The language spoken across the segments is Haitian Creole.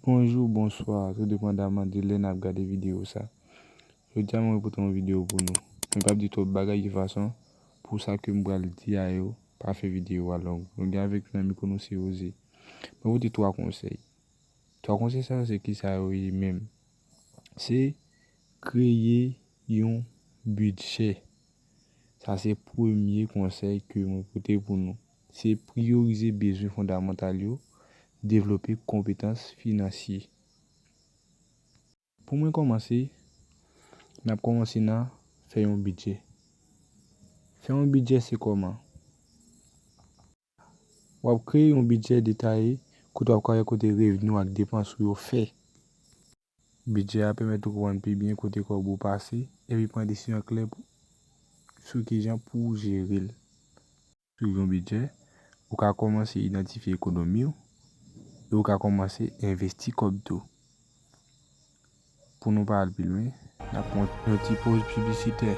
Bonjou, bonswa, tou depandaman de lè nap gade videyo sa. Jodi a mwen pote yon videyo pou nou. Mwen pap di twòp bagay ki fason pou sa kem pral di a yo pa fè videyo a long. Nou gen avèk nou nan mikwo nou se Jose. Mwen pote 3 konsèy. 3 konsèy sa yo se kisa yo ye menm? Se kreye yon bidjè. Sa se premye konsèy ke mwen pote pou nou. se priyorize bezwen fondamantal yo, devlope konpetans finansye. Pou mwen kòmanse, n ap kòmanse nan fè yon bidjè. Fè yon bidjè se kòman? W ap kreye yon bidjè detaye kote w ap ka wè kote revni w ak depans ou yo fè. Bidjè a pèmèt ou konprann pi byen kote kòb ou pase epi pran desizyon klè sou kijan pou w jere l. Sou yon bidjè, ou ka kòmanse idantifye ekonomi w e ou ka kòmanse envesti kòb tou. Pou nou pa al pi lwen, n ap pran yon ti poz piblisitè.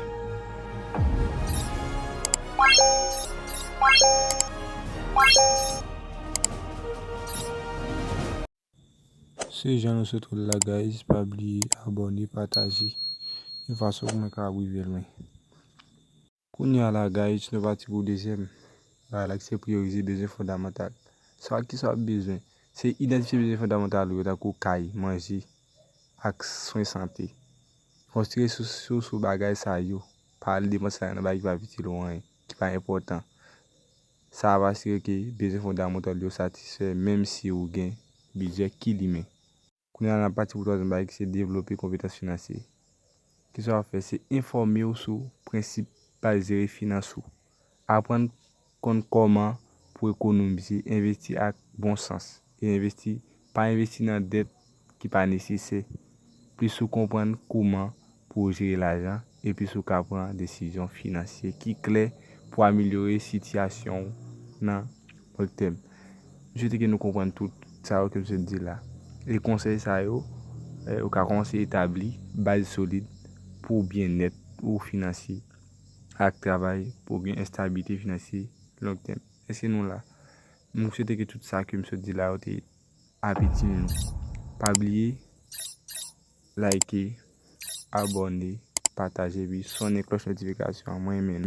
Se jan nou sot wè l la guys, pa bliye abòne, pataje yon fason pou mwen kapab rive lwen. Kounya la Gayitch nou pati pou dezyèm bagay la ki se priyorize bezwen fondamantal. Sa ak kisa w ap bezwen? Se idantifye bezwen fondamantal ou yo tankou kay, manje ak swen sante. Konstwi resous ou sou bagay sa yo, pa al depans lajan nan bagay ki pa ap itil ou anyen, ki pa enpòtan. Sa ap asire ke bezwen fondamantal ou yo satisfè menm si ou gen bidjè ki limen. Kounye a nan pati pou twazyèm bagay ki se devlope konpetans finansye. Ki sa w ap fè? Se enfòme w sou prensip baz jere finans ou. Aprann konn kòman pou ekonomize, envesti ak bon sans e envesti pa envesti nan dèt ki pa nesesè. Plis ou konprann kouman pou w jere lajan epi si w ka pran desizyon finansye ki klè pou amelyore sitiyasyon w nan long tèm. M swete ke nou konprann tout sa yo ke m sot di la. E konsèy sa yo, ou ka kòmanse etabli baz solid pou byennèt ou finansye ak travay pou w gen estabilite finansye long tèm. Èske nou la? M swete ke tout sa ke m sot di la yo te ap itil nou. Pa bliye. Like, abone, pataje epi sonnen klòch notifikasyon an mwen renmen nou.